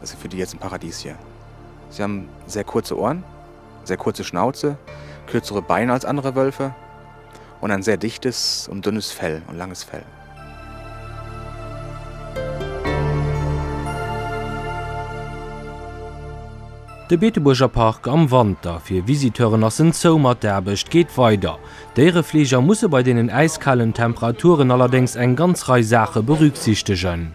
Dat si fir déi Iert en Paradiesje. Si han sehr kurze Ohren, sehr kurze Schnauze, kürzere Beine als andere Wölfe und ein sehr dichtes und dünnes Fell und langes Fell. De Beetebuerger Park am Wanter, Fir Visiteuren ass en zou, mat der Aarbecht geet weider. Déierefleeger musse bei deenen äiskalen Temperaturen allerdéngs eng ganz Rei Saache berücksichtegen.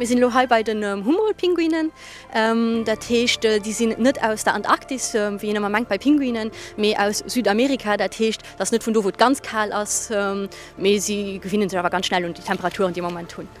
Mir sinn elo hei bei den Humboldt-Pinguinen. Dat heescht, déi sinn net aus der Antarktis, wéi een ëmmer mengt bei Pinguinen, mee aus Südamerika. Dat heescht, dass net vun do, wou et ganz kal ass, mee si gewinne sech awer ganz schnell un déi Temperaturen, déi mer am Moment hunn.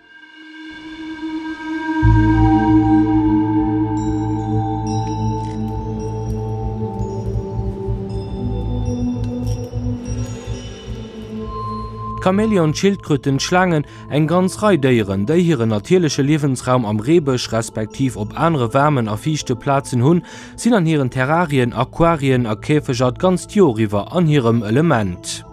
D'Chamäleon, d'Schildkröten, d'Schlaangen, eng ganz Rei Déieren, déi hiren natierleche Liewensraum am Reebësch respektiv op anere waarmen a fiichte Plazen hunn, sinn an hiren Terrarien, Aquarien a Käfeger d'ganzt Joer iwwer an hirem Element.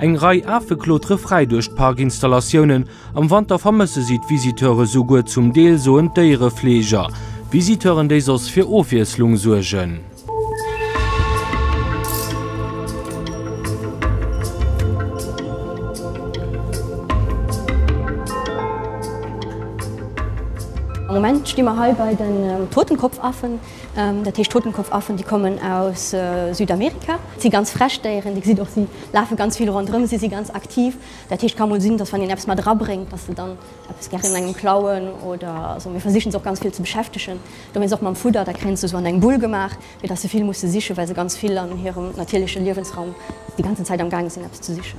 Eng Rei Afe klotere fräi duerch d'Parkinstallatiounen. Am Wanter vermësse si d'Visiteure souguer zum Deel, soen d'Déierefleeger. Visiteuren, déi soss fir Ofwiesslung suergen. Am Moment sti mer hei bei den Totenkopfaffen. Dat heescht Totenkopfaffen, déi kommen aus Südamerika. Et si ganz frech Déieren, Dir gesitt och, si lafe ganz vill ronderëm, si si ganz aktiv. Dat heescht, ka mol sinn, datt wann een eppes mat erabréngt, datt se dann eppes gären un engem klauen oder esou. Mir versichen se och ganz vill ze beschäftegen, domat och mam Fudder. Da kréien se esou an eng Bull gemaach, fir datt se vill musse sichen, well se ganz vill an hirem natierleche Liewensraum déi ganzen Zäit am gaange sinn eppes ze sichen.